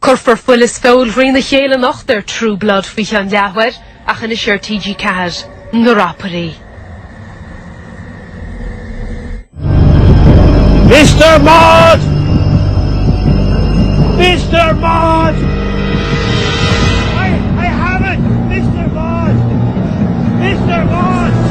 Cuirfear fuil is feoil thrína chéile anocht ar True Blood faoi cheann leathuair ach anois ar TG4, Na Rapairí. Mr. Maud! Mr. Maud! I, I have it! Mr. Maud! Mr. Maud!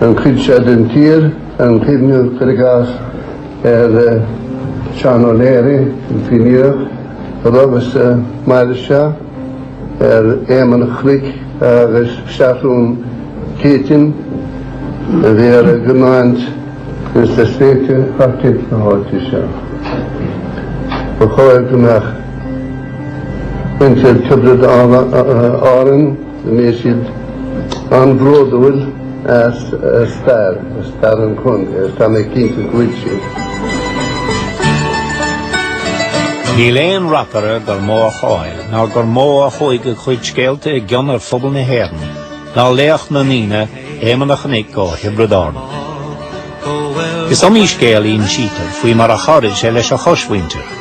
ar an chuid seo den tír gan cuimhneamh cuir i gcás ar Seán O'Leary, an Fíníneach, a rugadh is a mhair anseo, ar Éamonn a Chnoic agus Seathrún Céitinn a bhí ar a gcoimeád ins na sléibhte thart ar fud na háite seo. Ba chóir go mbeadh muintir Thiobraid Árann, go mbeadh siad an-bhródúil as a stair, a stair an chontae, agus tá mé cinnte go bhfuil siad. Níl aon rapaire gur mó a cháil ná gur mó a chuaigh a chuid scéalta i gcion ar phobal na hÉireann ná laoch na ndaoine Éamon a Chnoic ó Thiobraid Árann. Is iomaí scéal insítear faoi mar a chabhraigh sé leis an chosmhuintir,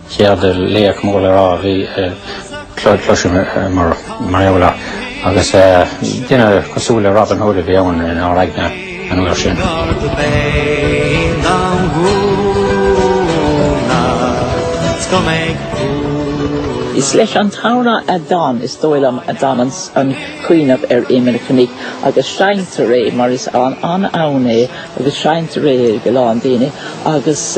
An chéad laoch mór le rá a bhí cloiste againn mar gheall air agus duine cosúil le Robin Hood a bhí ann inár aigne an uair sin. Is leis an t-amhrán a d'fhan, is dóigh liom, a d'fhan an cuimhneamh ar Éamon a Chnoic agus seinntear é mar is an-amhrán é agus seinntear é ag a lán daoine agus,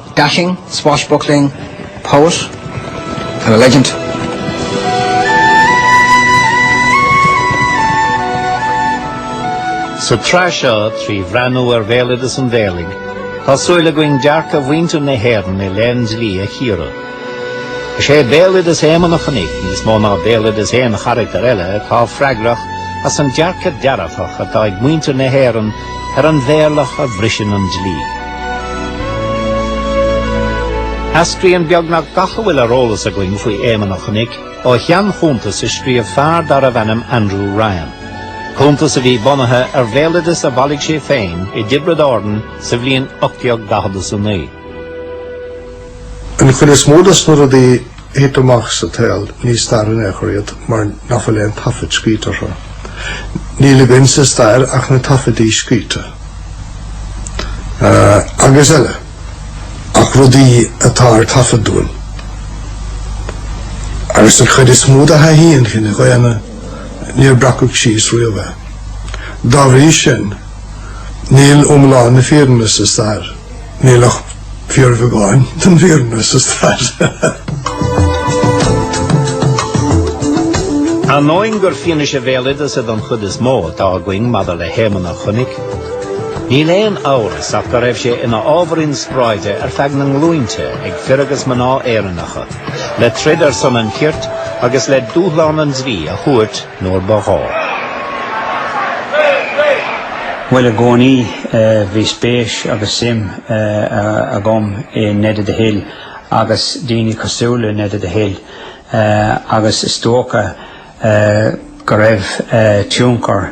dashing, swashbuckling, poet and a legend. Sa tsraith seo, trí bhreathnú ar bhéaloideas an mhéirligh, tá súil againn dearcadh mhuintir na hÉireann i leith dlí a chíoradh. Is é béaloideas Éamon a Chnoic níos mó ná béaloideas aon charachtar eile atá freagrach as an dearcadh dearfach atá ag muintir na hÉireann ar an mhéirleach a bhriseann an dlí. Eascraíonn beagnach gach a bhfuil ar eolas againn faoi Éamon a Chnoic ó sheanchuntas a scríobh fear darbh ainm Andrew Ryan, cuntas a bhí bunaithe ar bhéaloideas a bhailigh sé féin i dTiobraid Árann sa bhliain 1849. An chuid is mó dos na rudaí a thit amach sa tsaol ní stair in aon chor iad mar nach bhfuil aon taifead scríte orthu. Níl againn sa stair ach na taifeadaí scríte agus eile ach rudaí atá ar taifead dúinn agus an chuid is mó de thaithí an chine dhaonna níor breacadh síos riamh é. Dá bhrí sin níl iomlán na fírinne sa stair. Níl ach fíor bheagáin den bhfírinne sa stair. Ainneoin gur fianaise bhéaloideasa don chuid is mó atá againn maidir le hÉamonn an Chnoic, níl aon amhras ach go raibh sé ina ábhar inspioráide ar feadh na nglúinte ag fir agus mná Éireannacha le troid ar son an chirt agus le dúshlán an dlí a thabhairt nuair ba ghá. Bhuel, i gcónaí, bhí spéis agus suim agam i Ned of the Hill agus daoine cosúil le Ned of the Hill agus is dócha go raibh tionchar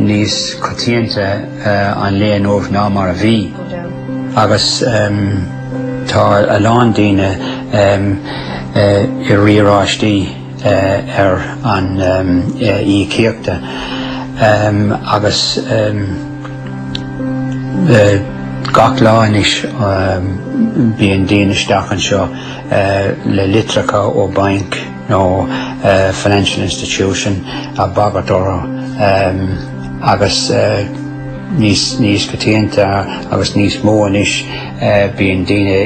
níos coitianta an lae inniu ná mar a bhí agus tá a lán daoine i riaráistí ar a n-íocaíochtaí agus gach lá anois bíonn daoine isteach anseo le litreacha ó bainc. nó financial institution a bhagairt orthu agus níos coitianta agus níos mó anois bíonn daoine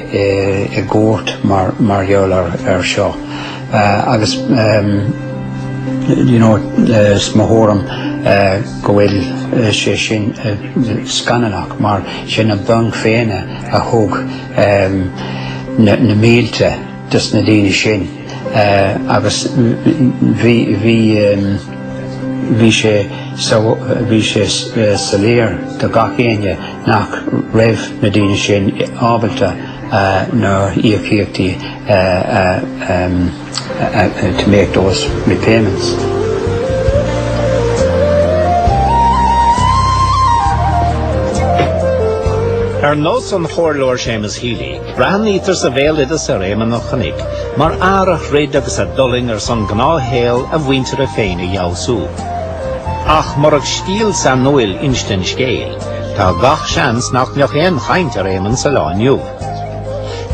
i gcúirt mar gheall air seo agus you know is mo thuairim go bhfuil sé sin scannalach mar is iad na bainc féin a thug na mílte dos na daoine sin. agus bhí sé soiléir do gach éinne nach raibh na daoine sin ábalta na híocaíochtaí to make those repayments. Ar nós an Chomhairleora Séamus Healy, Breathnaítear sa bhéaloideas ar Éamonn an Chnoic mar fhear a throid agus a d'fhulaing ar son gnáthshaol a mhuintire féin a fheabhsú. Ach murach stíl sainiúil insinte an scéil, tá gach seans nach mbeadh aon chaint ar Éamonn sa lá inniu.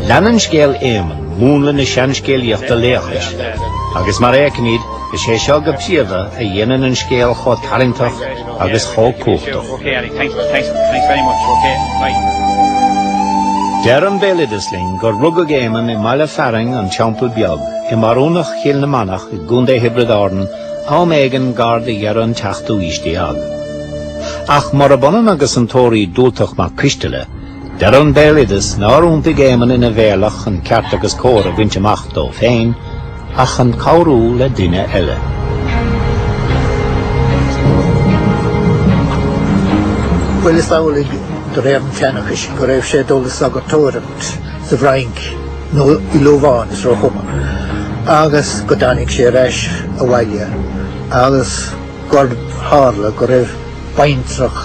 Leanann scéal Éamoinn múnla na seanscéalaíochta laochais, agus mar a fheicimid, is é seo go príomha a dhéanann an scéal chomh tarraingteach agus chomh cumhachtach. Deir an béaloideas linn gur rugadh Éamonn i mbaile fearainn an Teampall Beag, i mbarúnacht Chill na Manach i gContae Thiobraid Árann, am éigin gar do dheireadh an tseachtú haois déag. Ach murab ionann agus an Tóraí Dubhaltach Mac Coisteala, deir an béaloideas nár iontaigh Éamonn ina mhéirleach chun ceart agus cóir a bhaint amach dó féin, ach chun cabhrú le duine eile. Bhuel, is amhlaidh, de réir an tseanchais, go raibh sé ag dul le sagartóireacht sa bhFrainc nó i Lobháin is róchuma, agus go dtáinig sé ar ais abhaile agus gur tharla go raibh baintreach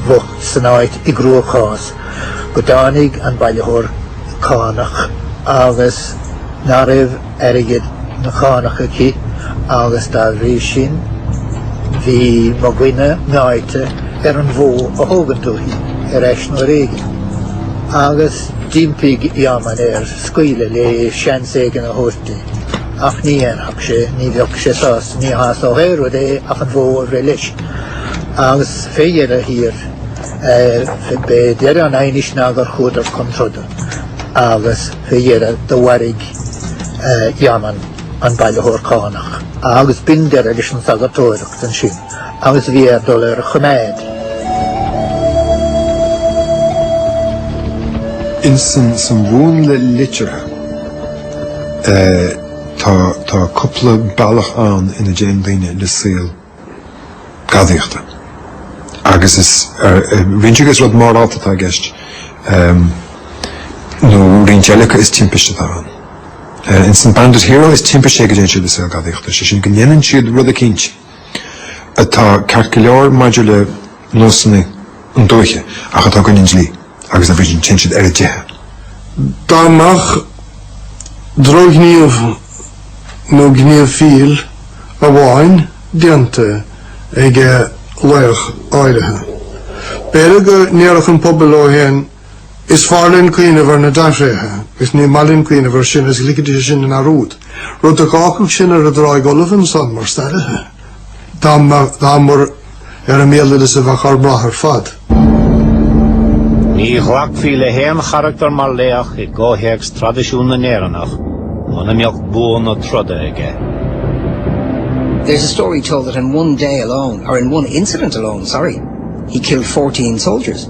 bhocht san áit i gcruachás go dtáinig an bailitheoir cánach agus ná raibh airgead na cánach aici agus dá bhrí sin bhí mo dhuine meáite ar an bhó a thógaint uaithi ar ais nó ar éigean agus d'impigh Éamonn air scaoileadh léi seans éigin a thabhairt di. ach ní dhéanfadh sé, ní bheadh sé sásta, ní shásódh aon rud é ach an bhó a bhreith leis. Agus fé dheireadh thiar, b'é deireadh an aighnis ná gur chuadar chun troda agus fé dheireadh do mharaigh Éamonn an bailitheoir cánach agus b'in deireadh leis an sagartóireacht ansin agus bhí air dul ar a choimeád. Insan mhúnla liteartha. Tá cúpla bealach ann ina dtéann daoine le saol gadaíochta agus is roinnt acu is rud morálta atá i gceist nó roinnt eile acu is timpiste atá ann. In san Bandit Hero is timpiste é go dtéann siad le saol gadaíochta, sé sin go ndéanann siad rud eicínt atá ceart go leor maidir le nósanna an dúiche ach atá i gcoinne an dlí agus dá bhrí sin téann siad ar a dteitheadh. Dá mbeadh drochghníomh nó gníomh fill amháin déanta ag laoch áirithe, b'fhéidir go ndéarfadh an pobal leo féin, Is fearr linn cuimhneamh ar na dea-thréithe is ní maith linn cuimhneamh air sin is ligfidís é sin i ndearúd, rud a dh'fhágfadh sinn ar an dtráigh fholamh ansan mar stairithe, dá mba ar an mbéaloideas a bheadh ár mbrath ar fad. Ní ghlacfaí le haon charachtar mar laoch i gcomhthéacs traidisiún na nÉireannach muna mbeadh bua na troda aige. There's a story told that in one day alone, or in one incident alone, sorry, he killed fourteen soldiers.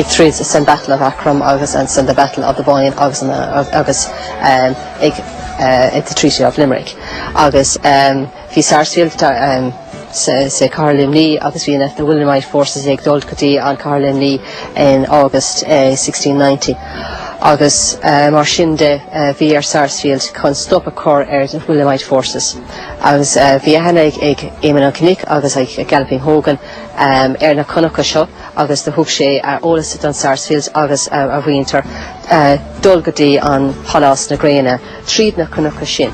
tríd san Battle of Aughrim agus ansan The Battle of the Boyne agus an agus ag The Treaty of Limerick agus bhí Sarsfield sa sa Cathair Luimní agus bhí an the Williamite forces ag dul go dtí an Cathair Luimní in August 1690 agus mar sin de bhí ar Sarsfield chun stop a chur ar the Williamite forces agus bhí a haithne ag Éamonn an Chnoic agus ag Galloping Hogan ar na cnocha seo agus do thug sé a eolas don Sarsfield agus a mhuintir dul go dtí an Pálás na Gréine tríd na cnocha sin.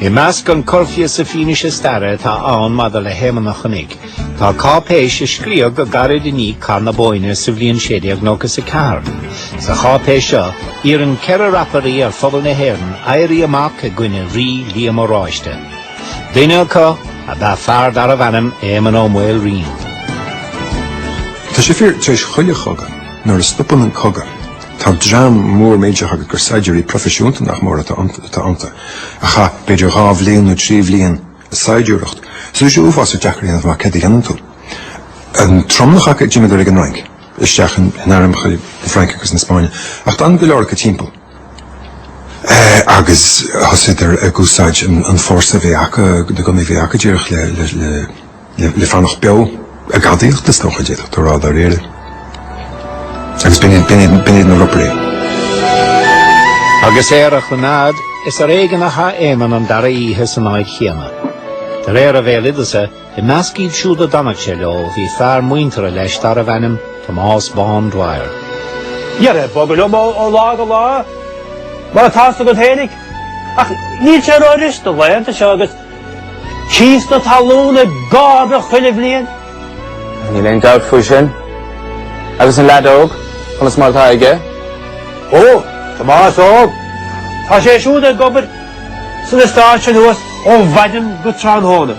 I measc an corrphíosa fianaise staire atá ann maidir le hÉamonn an Chnoic tá cáipéis a scríodh go gairid i ndiaidh Cath na Bóinne sa bhliain 1694. Sa cháipéis seo iarrann ceithre rapairí ar phobal na hÉireann éirí amach i gcoinne Rí Liam Oráiste. Duine acu ab ea fear darbh ainm Éamonn Ó Maoilriain. Tá sé fíor tar éis chuile chogadh, nuair a stopann an cogadh, tá dream mór millteach agat gur saighdiúirí proifisiúnta nach mór atá iontu, a chaith b'fhéidir dhá bhliain nó trí bhliain ag saighdiúireacht, so tá sé uafásach deacair a dhéanamh amach céard a dhéanann tú. An tromlach acu, d'imíodar ag an Fhrainc, isteach in airmeacha na Fraince agus na Spáinne, ach d'fhan go leor acu timpeall. agus thosaíodar ag úsáid an fórsa a bhí acu, na gunnaí a bhí acu díreach le le le fanacht beo, ag gadaíocht is dócha a d'fhéadfadh tú a rá dáiríre. Agus b'in iad b'in iad b'in iad na ropairí. Agus ar a choimeád is ar éigean a chaith Éamonn an dara oíche san áit chéanna. De réir an bhéaloideasa, I measc iad siúd a d'fhanadh sé leo bhí fear muinteartha leis darbh ainm Tomás Bán Dwyer. Ara, ag bogadh liom ó lá go lá, mar atá a fhios agat féinig, ach níl sé rófhurasta na laethanta seo agus cíos na talún ag ardú chuile bhliain. Níl aon dabht faoi sin. Agus an leaid óg, conas mar atá aige? Ó, Tomás óg, tá sé siúd ag obair san eastát sin thuas ó mhaidin go tráthnóna.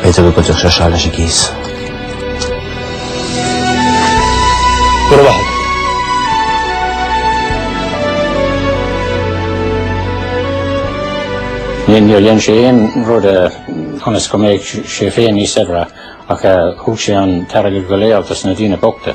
B'fhéidir go gcuideodh sé seo leis an gcíos. Go raibh maith agat. Níor dhein sé aon rud ionas go mbeadh sé féin níos saibhre ach thug sé an t-airgead go léir dos na daoine bochta.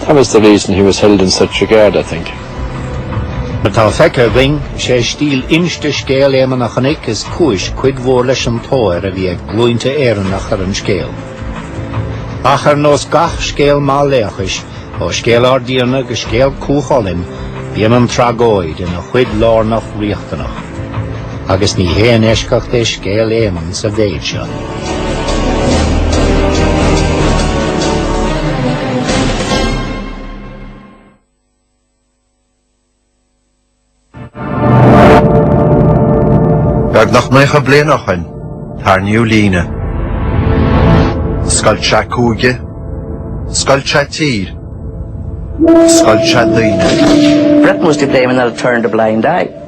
That was the reason he was held in such regard, I think. Mar atá feicthe againn, is é stíl inste scéal Éamonn an Chnoic is cúis cuid mhór leis an tóir a bhí ag glúinte Éireannach ar an scéal. Ach ar nós gach scéal maith laochais, ó scéal ár dTiarna go scéal Cú Chulainn, bíonn an tragóid ina chuid lárnach riachtanach. agus ní haon eisceacht é scéal Éamonn sa mhéid seo. Beagnach naocha bliain ó shin, tarraingíodh líne. Scoilt sé cúige, scoilt sé tír, scoilt sé daoine. Britain was to blame and they'll turn a blind eye.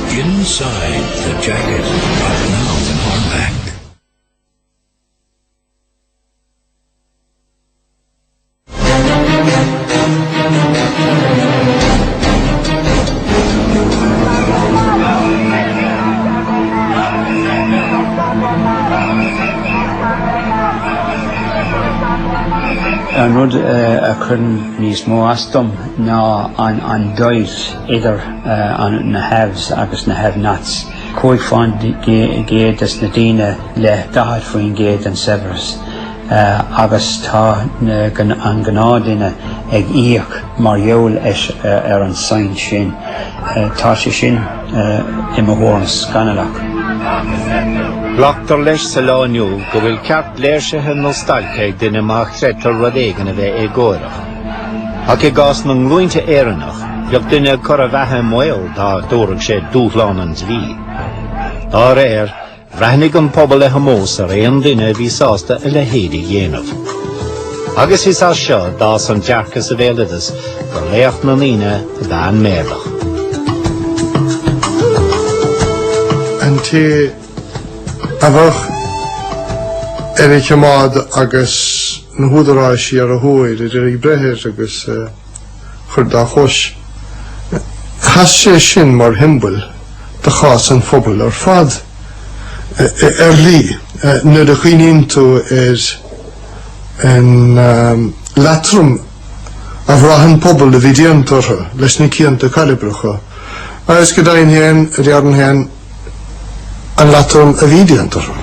Inside the Jacket out now in hardback. An rud a chuireann níos mó as dom ná an doigh. idir na haves agus na have-nots, 5 faoin gcéad des na daoine le 40 faoin gcéad den saibhreas, agus tá an gnáthdhuine ag íoc mar gheall ar an saint sin. Tá sé sin, i mo thuairim, scannalach. Glactar leis sa lá inniu go bhfuil ceart léirsithe nó stailce ag duine má chreidtear rud éigin a bheith éagórach. Ach i gcás na nglúinte Éireannach, bheadh duine ag cur a bheatha i mbaol dá dtabharfadh sé dúshlán an dlí. Dá réir, bhreathnaigh an pobal le hómós ar aon duine a bhí sásta a leithéid a dhéanamh. Agus is as seo d'fhás an dearcadh sa bhéaloideas gur laoch na ndaoine ab ea an meirleach. An té a bheadh ar a choimeád agus na húdaráisí ar a thóir, a d'iarraidh breith air agus é a chur dá chois, sheas sé sin mar shiombail de chás an phobail ar fad. Ar ndóigh, nuair a chuimhníonn tú ar an leatrom a bhraith an pobal a bhí déanta orthu leis na cianta cairbreacha, is go deimhin féin a déarfainn féin, An leatrom a bhí déanta orthu.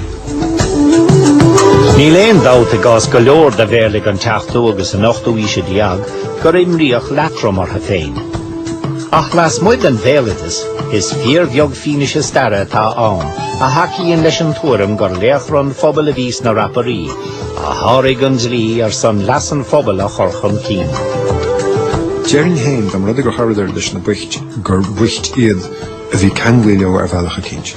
Níl aon dabht, i gcás go leor de mheirligh an tseachtú agus an ochtú haoise déag, gur imríodh leatrom orthu féin. Ach lasmuigh den bhéaloideas, is fíorbheag fianaise staire atá ann a thacaíonn leis an tuairim gur laochra an phobail a bhí sna Rapairí, a sháraigh an dlí ar son leas an phobail a chur chun cinn. Déarfainn féin dá mba rud gur chabhraíodar leis na boicht gur bhoicht iad a bhí ceanglaí leo ar bhealach eicínt.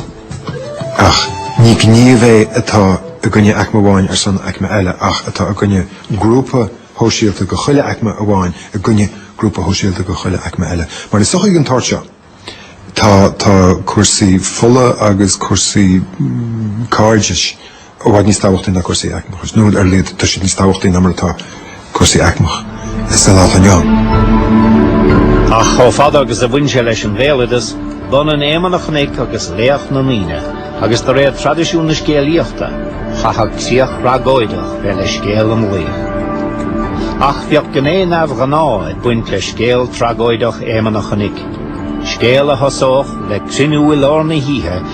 Ach ní gníomh é atá i gcoinne aicme amháin ar son aicme eile ach atá i gcoinne grúpa shóisialta go chuile aicme amháin i gcoinne grúpa shóisialta go chuile aicme eile. Mar i sochaí den tsórt seo tá cúrsaí fola agus cúrsaí cairdis i bhfad níos tábhachtaí ná cúrsaí aicmeachais, nó ar a laghad tá siad níos tábhachtaí ná mar atá cúrsaí aicmeachais sa lá atá inniu ann. Ach chomh fada agus a bhain sé leis an bhéaloideas, b'ionann Éamonn a' Chnoic agus laoch na ndaoine, agus de réir traidisiún na scéalaíochta, chaithfeadh críoch thragóideach bheith le scéal an laoich. Ach bheadh gné neamhghnáth ag baint le scéal tragóideach Éamonn a' Chnoic, scéal a thosódh le cruinniú i lár na hoíche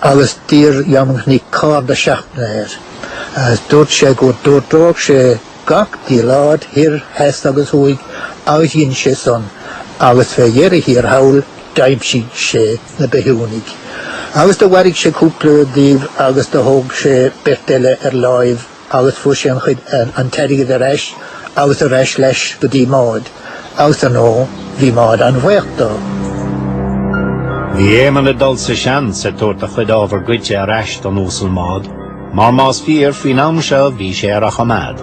agus d'iarr Éamonn an Chnoic cairde seachtaine air agus dúirt sé go dtabharfadh sé, chuardódh sé gach áit thoir, theas agus thuaidh agus dhein sé san agus fé dheireadh thiar thall d'aimsigh sé na bithiúnaigh agus do mharaigh sé cúpla díobh agus do thóg sé beirt eile ar láimh. agus fuair sé an chuid, an t-airgead ar ais agus ar ais leis go dtí Maud agus ar ndóigh bhí Maud an-bhuíoch dó. Bhí Éamonn ag dul sa seans ag tabhairt a chuid ábhar goidte ar ais don Uasal Maud, mar más fíor faoin am seo bhí sé ar a choimeád.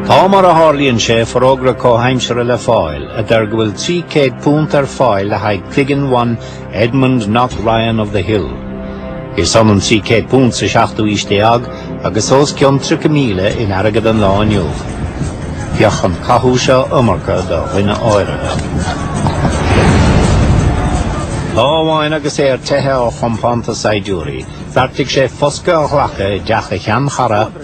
Tá mar a tharlaíonn sé forógra comhaimseartha le fáil a deir go bhfuil £300 ar fáil le haghaidh cloigeann one Edmund Knock Ryan of the Hill. Is ionann £300 sa seachtú aois déag agus os cionn 30,000 in airgead an lá inniu. Bheadh an cathú seo iomarca do dhuine áirithe. Lá amháin agus é ar teithe ó chompánta saighdiúirí, bheartaigh sé foscadh a ghlacadh i dteach a sheanchara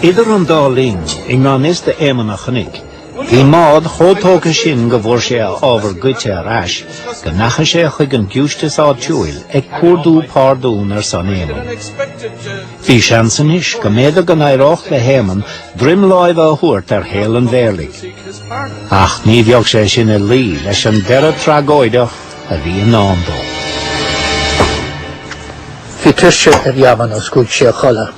Idir an dá linn, i ngan fhios d'Éamonn a' Chnoic, bhí Maud chomh tógtha sin go bhfuair sé a ábhar goidte ar ais go ndeachaigh sé chuig an giúistis áitiúil ag cuardú pardún ar son Éamonn. Bhí seans anois go mb'fhéidir go n-éireodh le hÉamonn droim láimhe a thabhairt ar shaol an mheirligh. Ach ní bheadh sé sin ag luí leis an deireadh tragóideach a bhí i ndán dó. Bhí tuirse ar Éamonn agus chuaigh sé a chodladh,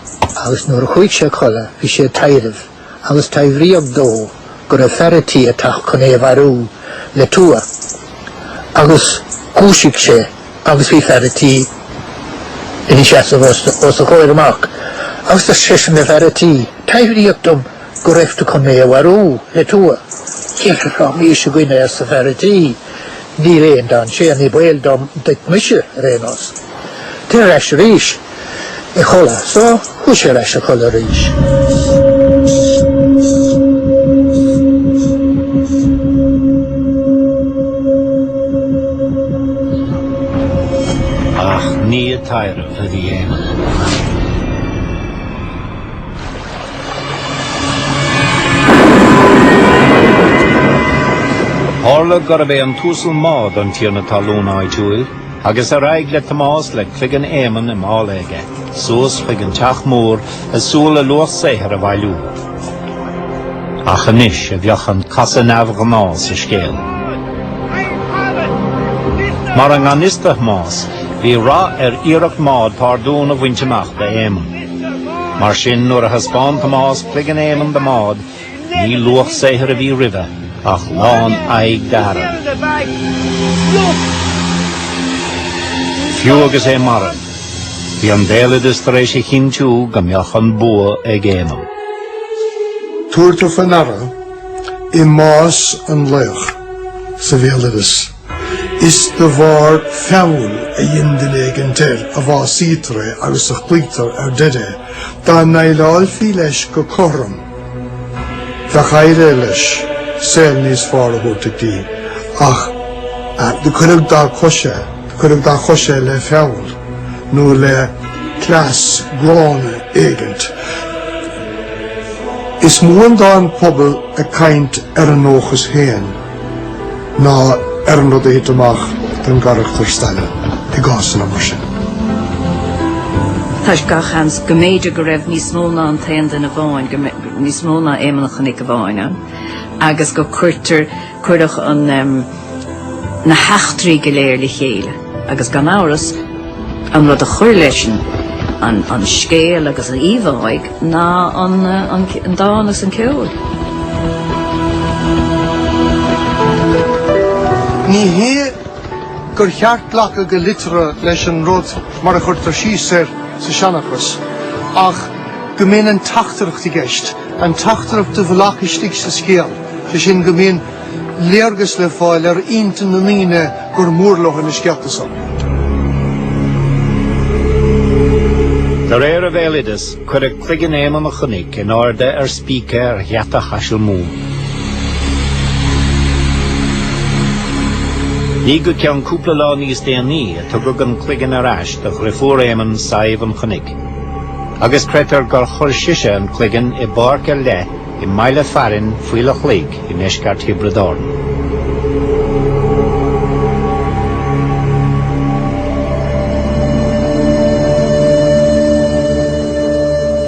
agus nuair a chuaigh sé a chodladh bhí sé ag taibhreamh, agus taibhríodh dó go raibh fear a' tí ag teacht chun é a mharú le tua. Agus dhúisigh sé agus bhí fear a' tí ina sheasamh os a chomhair amach. Agus dúirt seisean le fear a' tí, taibhríodh dom go raibh tú chun mé a mharú le tua. Céir rá mí a gcuine arsa fear a' tí. Níl aon dainséar, ní baol dom duit mise, ar aon nós. Téir ar ais arís a chodladh. So, chuaigh sé ar ais a chodladh arís. Tharla gurb é an tUasal Maud an Tiarna Talún áitiúil, agus ar aghaidh le Tomás le cloigeann Éamonn i mála aige, suas chuig an teach mór, ag súil a luach saothair a bhailiú. Ach anois a bheadh an casadh neamhghnáth sa scéal. Mar i ngan fhios do Thomás, bhí rath ar iarracht Maud pardún a bhaint amach d'Éamonn. Mar sin, nuair a thaispeáin Tomás cloigeann Éamonn do Maud, ní luach saothair a bhí roimhe ach lán aghaidh d'fhearg. Fiú agus é marbh, bhí an béaloideas tar éis a chinntiú go mbeadh an bua ag Éamonn. Tabhartar faoi ndeara i mbás an laoch sa bhéaloideas. Is de bharr feall a dhein duine éigint air a bhásaítear é agus a chloítear ar deireadh é. Dá ndéileálfí leis go cothrom, bheadh éirithe leis saol níos fearr a thabhairt di, ach do cuireadh, do cuireadh dá chois é le feall nó le cleas gránna éigint. Is mó atá an pobal ag caint ar a ndóchas féin. ná ar an rud a thit amach don gcarachtar staire i gcásanna mar sin. Tá sé gach seans go mb'fhéidir go raibh níos mó ná an t-aon duine amháin, níos mó ná Éamonn an Chnoic amháin ann, agus go gcuirtear, cuireadh an, na heachtraí go léir le chéile. agus gan amhras, an rud a chuir leis sin an scéal agus an íomháigh ná an dán agus an ceol. Ní hé gur cheart glacadh go liteartha leis an rud mar a chuirtear síos air sa seanchas, ach go mbíonn an teachtaireacht i gceist, an teachtaireacht i bhfolach istigh sa scéal, sé sin go mbíonn léargas le fáil ar intinn na ndaoine gur mór leo na scéalta san. De réir an bhéaloideas, cuireadh cloigeann Éamonn an Chnoic in airde ar spíce ar gheata Chaisil Mumhan. Ní go ceann cúpla lá níos déanaí a tugadh an cloigeann ar ais do dheirfiúr Éamonn Sadhbh an Chnoic, agus creidtear gur chuir sise an cloigeann i bpáirc ar leith i mbaile fearainn Fhaill an Chloig i ndeisceart Thiobraid Árann.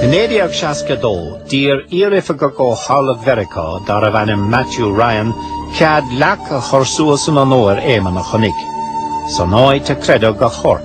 I 1962, d'iarr iaroifigeach ó Chabhlach Mheiriceá darbh ainm Matthew Ryan cead leac a chur suas in onóir Éamann an Chnoic san áit a creideadh a chorp.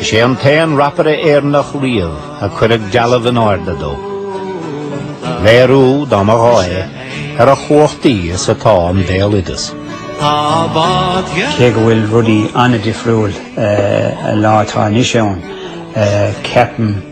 Is é an t-aon rapaire Éireannach riamh a cuireadh dealbh in airde dó. Léiriú, dá mba ghá é, ar a chumhachtaí is atá an béaloideas. Cé go bhfuil rudaí an-difriúil eh, an lá atá anois ann, ceapaim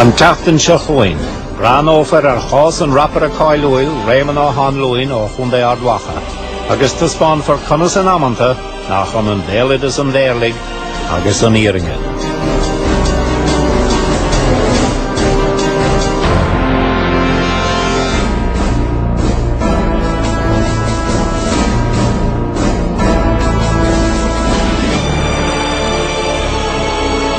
An tseachtain seo chugainn, breathnófar ar chás an rapaire cáiliúil Réamonn Ó hAnluain ó Chontae Ard Mhacha agus taispeánfar conas in amanta nach ionann béaloideas an mheirligh agus an fhírinne.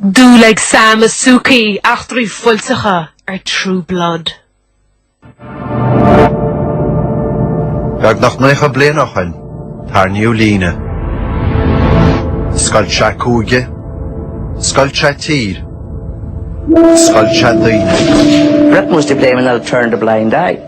Dul ag Sam is Sookie, eachtraí fuilteacha ar True Blood. Beagnach 90 bliain ó shin, tarraingíodh líne. Scoilt sé cúige, scoilt sé tír, scoilt sé daoine. Britain was to blame and they'll turn the blind eye.